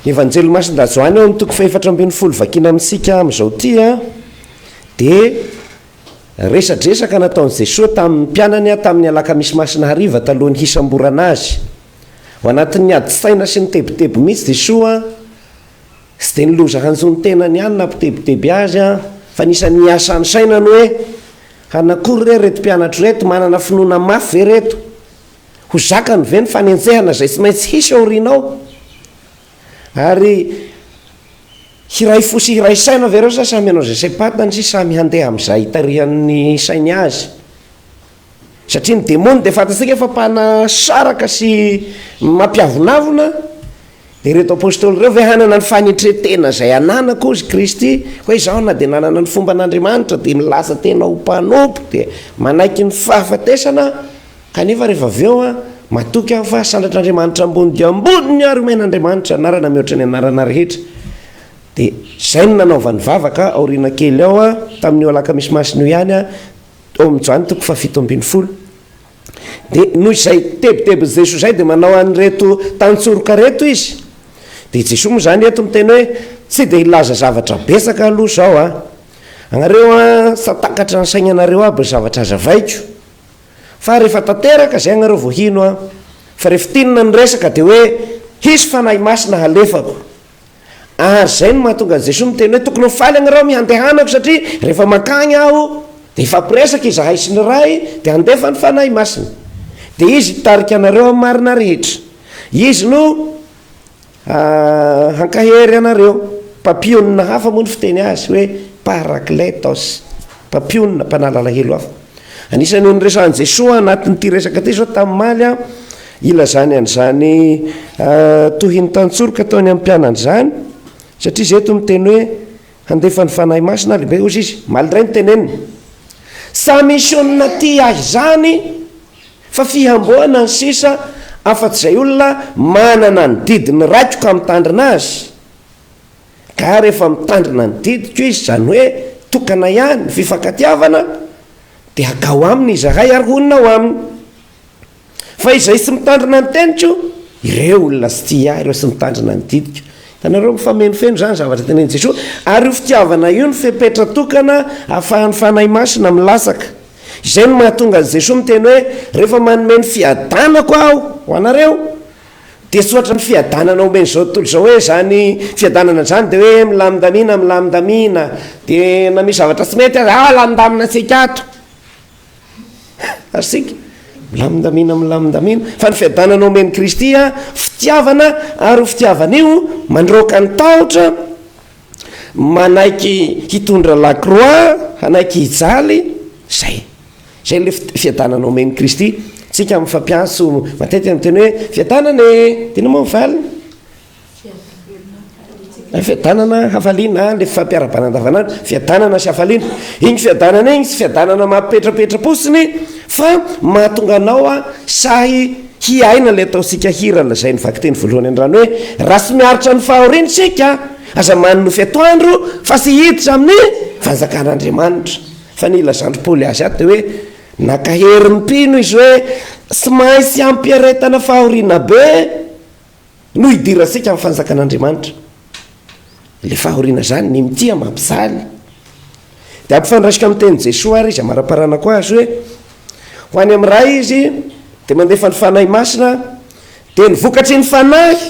Evanjely Masin-dRajoany ao amin'ny toko fahefatra ambin'ny folo vakina amintsika amin'izao ity a, dia resadresaka nataon'i Jesoa tamin'ny mpianany tamin'ny alakamisy masina hariva talohan'ny hisamborana Azy. Ao anatin'ny adin-tsaina sy ny tebiteby mihitsy Jesoa, tsy dia ny loza hanjo ny tenany ihany nampitebiteby Azy fa nisy an'ny hiasa ny sainany hoe, hanana akory re ireto mpianatro ireto, manana finoana mafy ve ireto? Ho zakany ve ny fanenjehana izay tsy maintsy hisy aoriana ao? Ary hiray fo sy hiray saina ve ireo sa samy hanao izay saim-pantany sy samy handeha amin'izay itarihan'ny sainy azy? Satria ny demony dia fantatsika fa mpanasaraka sy mampiavonavona, Dia ireto Apostoly ireo ve hanana ny fanetren-tena izay ananako, hoy Kristy, hoe izaho na dia nanana ny fomban' Andriamanitra dia nilaza tena ho mpanompo dia manaiky ny fahafatesana aho, kanefa rehefa avy eo aho matoky aho fa sandratr' Andriamanitra ambony dia ambony ary omen' Andriamanitra anarana mihoatra ny anarana rehetra. Dia izay no nanaovany vavaka aoriana kely ao tamin' io alakamisy masina io ihany, ao amin' i Joany toko fahafito ambin'ny folo. Dia noho izay tebitebin'i Jesoa izay dia manao an'ireto tantsoroka ireto Izy. Dia Jesoa moa izany eto miteny hoe, tsy dia hilaza zavatra betsaka aloha izao an, anareo an, sa takatra ny sainanareo aby ny zavatra azavaiko, fa rehefa tanteraka izay anareo vao hino an, fa rehefa tinona ny resaka dia hoe, hisy Fanahy Masina halefako, Ary zay no mahatonga an'i Jesoa miteny hoe tokony ho faly agnareo amin'ny handehanako satria rehefa mankagny aho dia hifampiresaka izahay sy ny Ray dia handefa ny Fanahy Masina dia izy hitarika anareo amin'ny marina rehetra. Izy no hankahery anareo. Mpampionona hafa moa ny fiteny azy hoe parakletos, mpampionona, mpanala alahelo hafa. Anisan'io niresahan'i Jesoa anatin'ity resaka ity zao tamin'ny maly a, Ilazany an'izany tohin'ny tantsoroka ataony amin'ny mpianany izany, satria izy eto miteny hoe handefa ny Fanahy Masina ary be ozy izy, malgré ny teneniny. Sa misy olona tia ahy izany fa fihamboana ny sisa afa-tsy izay olona manana ny didin'ny raiko ka mitandrina azy? Ka rehefa mitandrina ny didiko izy, izany hoe tokana ihany, fifankatiavana, dia hakao aminy izahay ary honina ao aminy. Fa izay tsy mitandrina ny teniko, ireo olona tsy tia ahy, ireo tsy mitandrina ny didiko. Hitanareo, mifamenoifeno izany zavatra tenenin'i Jesoa. Ary io fitiavana io no fepetra tokana ahafahan'ny Fanahy Masina milatsaka. Izay no mahatonga an'i Jesoa miteny hoe, Rehefa manome ny fiadanako Aho ho anareo, dia tsy hoatran'ny fiadanana omen'izao tontolo izao hoe, izany fiadanana izany dia hoe milamindamina, milamindamina, dia na misy zavatra tsy mety aza, ah, lamindamina antsika ato. Ary singa, milamindamina, milamindamina, fa ny fiadanana omen'i Kristy a, fitiavana, ary ho fitiavana io mandroaka ny tahotra, manaiky hitondra la croix, hanaiky hijaly, zay. Zay le fiadanana omen'i Kristy, tsika mifampiantso matetika miteny hoe fiadanana e, de inona moa ny valiny? Ilay fiadanana, hafaliana, ah, ilay fampiarabana andavanandro, fiadanana sy hafaliana. Iny fiadanana iny tsy fiadanana mampipetrapetra-potsiny fa mahatonga anao a sahy hiaina ilay ataontsika hira lazain'ny vakiteny voalohany an-drano hoe raha tsy miaritra ny fahoriana isika aza manonofy atoandro fa tsy hiditra amin'ny fanjakan'Andriamanitra. Fa ny ilazandry Paoly azy ato dia hoe nankahery ny mpino izy hoe tsy maintsy ampiaretana fahoriana be No hidirantsika amin'ny Fanjakan'Andriamanitra. Ilay fahoriana izany, ny mitia mampijaly. Dia ampifandraisiko amin'ny tenin'i Jesoa ary izy amara-paranako azy hoe, ho any amin'ny Ray izy dia mandefa ny Fanahy Masina, dia ny vokatry ny Fanahy,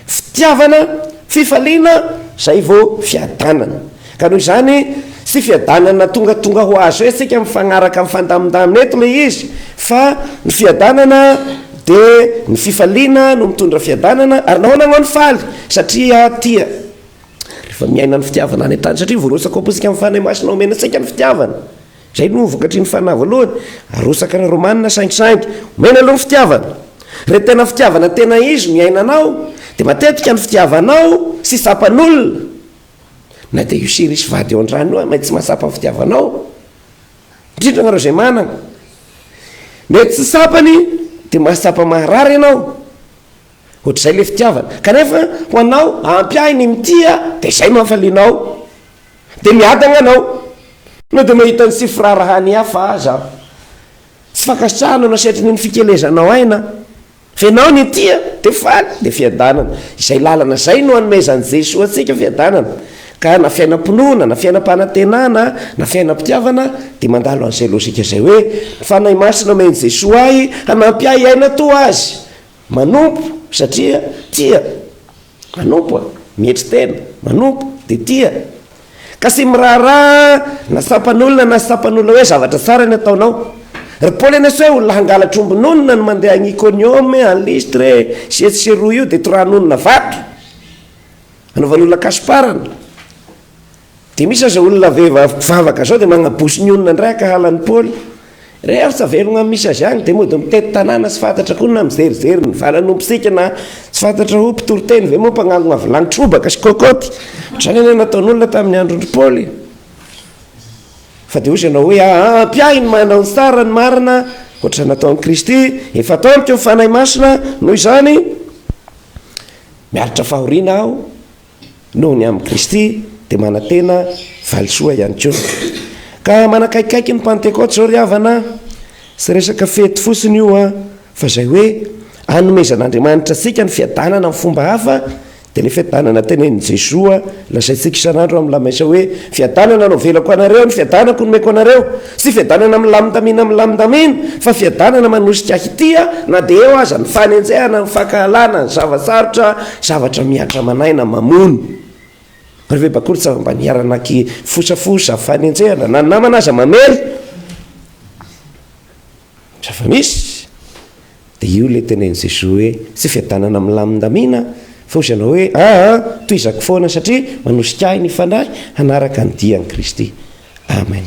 fitiavana, fifaliana, izay vao fiadanana. Ka noho izany, tsy fiadanana tongatonga ho azo isika mifagnaraka mifandamindamina eto ilay izy, fa ny fiadanana dia ny fifaliana no mitondra fiadanana, ary nahoana anao no faly? Satria tia. Rehefa miaina ny fitiavana any an-tany, satria voarotsaka ho apotika amin'ny Fanahy Masina omena antsika ny fitiavana, izay no vokatry ny Fanahy voalohany, arotsaka ny Romana saingisaingy, omena aloha ny fitiavana. Rehefa tena fitiavana tena izy no iainanao, dia matetika ny fitiavanao tsy tsapan'olona, Na dia io sy irisy vady eo an-drano io aza mety tsy mahatsapa ny fitiavanao, indrindra anareo izay manana. Mety tsy tsapany dia mahatsapa maharary ianao, ohatr'izay ilay fitiavana. Kanefa ho anao, ampy ahy ny mitia dia izay no hafalianao, dia miadana ianao na dia mahita ny tsy firaharahan'ny hafa aza aho. Tsy fankasitrahana na setrin'ny ny fikelezanao aina. Venao ny tia dia faly dia fiadanana. Izay lalana izay no anomezan'i Jesoa antsika fiadanana. Ka na fiainam-pinoana, na fiainam-panantenana, na fiainam-pitiavana dia mandalo an'izay lojika izay hoe, ny Fanahy Masina omen'i Jesoa ahy hanampy ahy hiaina toa Azy. Manompo satria tia. Manompo a! Mietry tena, manompo, dia tia. Ka sy miraharaha na sampan'olona na sampan'olona hoe zavatra tsara ny ataonao. Ry Paoly anie sao olona hangalatra omby nonina no mandeha any Ikonioma e, any Listra e, sy etsy sy eroa io dia toraha nonina vato, anaovan'olona kasiparana. Dia misy aza olona vehivavy mpivavaka zao dia magnaboso ny olona indray akahala an'i Paoly re ary tsy avelogna am misy azy agny dia mody mitety tanàna tsy fantatra koa na mizerizery ny vala no mpisika na tsy fantatra ho mpitoriteny ve moa mpagnangona vilagny trobaka sy kôkôty ohatr'izany anie nataon'olona tamin'ny androndry Paoly fa dia ozy ianao hoe aa mpiahy ny manao ny tsara ny marina ohatr'izay nataon'i Kristy efa ataoniko ny Fanahy Masina noho izany miaritra fahoriana aho noho ny amin'i Kristy dia manantena valisoa ihany koa. Ka manakaikaiky ny Pantekoty izao ry havana a! Tsy resaka fety fotsiny io a! Fa izay hoe anomezan'Andriamanitra antsika ny fiadanana amin'ny fomba hafa dia ilay fiadanana tenenin'i Jesoa lazaintsika isan'andro amin'ny lamesa hoe, Fiadanana no avelako anareo, ny fiadanako no omeko anareo. Tsy fiadanana milamindamina milamindamina, fa fiadanana manosika hitia na dia eo aza ny fanenjehana, ny fankahalana, ny zava-tsarotra, zavatra mihatra aman'aina mamono. Ary ve bakoly tsy afa mba niara-naky fosafosa, fanenjehana, na ny namana aza mamely? Zava-misy. Dia io ilay tenenin'i Jesoa hoe, tsy fiadanana milamindamina fa hozy ianao hoe, aa, tohizako foana satria manosika ahy ny Fanahy hanaraka ny dian'i Kristy. Amen.